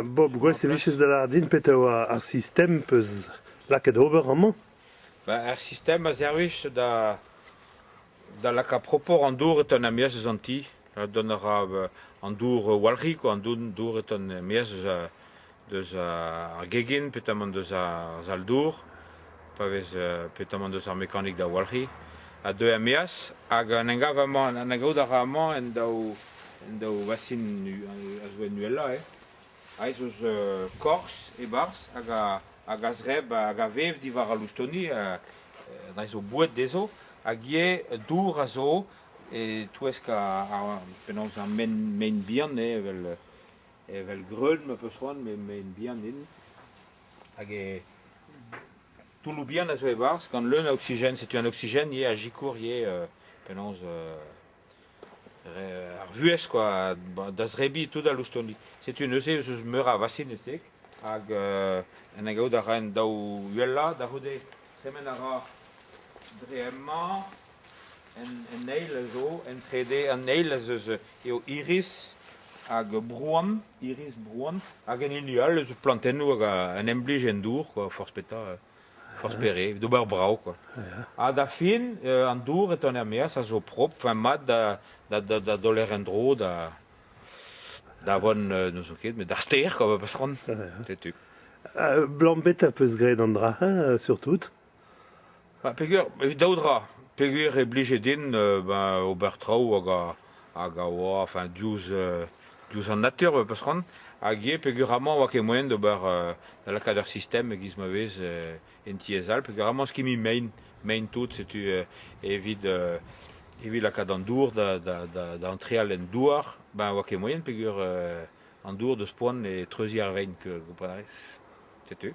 Bob, gwez e viches da lâret din petra oa ar sistem peus lakaet ober amañ. Ar sistem a servij da Da lakaat propoc'h an dour e teuan er-maez eus an ti. Dont a ra an dour walc'hik ha an dour e teuan er-maez deus ar gegin petamant deus ar sal-dour, pa vez petamant deus ar mekanik da walc'hiñ. A deu er-maez hag en em gav amañ, en em gaout a ra amañ en daou en daou vasin a zo en uhelañ eo. Aes eus korz e-barzh hag a hag a zreb hag a vev diwar al loustoni, da zo boued dezho, hag ivez dour a zo e-touesk penaos ar mein, mein bihan, evel evel greun ma peus c'hoant, met mein bihan int. Hag e toulloù bihan a zo e-barzh, gant leun a oksigen. Setu an oksigen ivez a sikour ivez penaos ar vuhez quoi, da zebriñ tout al loustoni. Setu neuze ez eus meur a vasinezeg hag en em gaout a raen daou uhelañ da c'houde. Tremen a ra dre hemañ. En eil zo, en trede, an eil ez eus eo iris hag brouan, iris brouan, hag en hini all ez eus plantennoù hag un emblij en dour quoi, forzh petra. forzh pere, d'ober brav quoi. Ha da fin, an dour e tenn er-maez a zo propr, enfin mat da, da, da, da doler en-dro da, da vont, n'eus ket, met d'ar stêr quoi, ba patron. Setu. Uh, Blambet a peus graet an dra, hein, surtout. Ha peger, daou dra. Peger e blije din ben, ober traoù hag a, hag a oa enfin diouzh diouzh an natur e peusc'hoant hag ivez peogwir amañ e oa ket moaien d'ober da lakaat ur sistem e-giz ma vez en tiez all peogwir amañ skimmi mein mein tout setu evit evit lakaat an dour da da da antreal en douar ben oa ket moaien peogwir an dour deus poan e treuziñ ar vein kompren a rez setu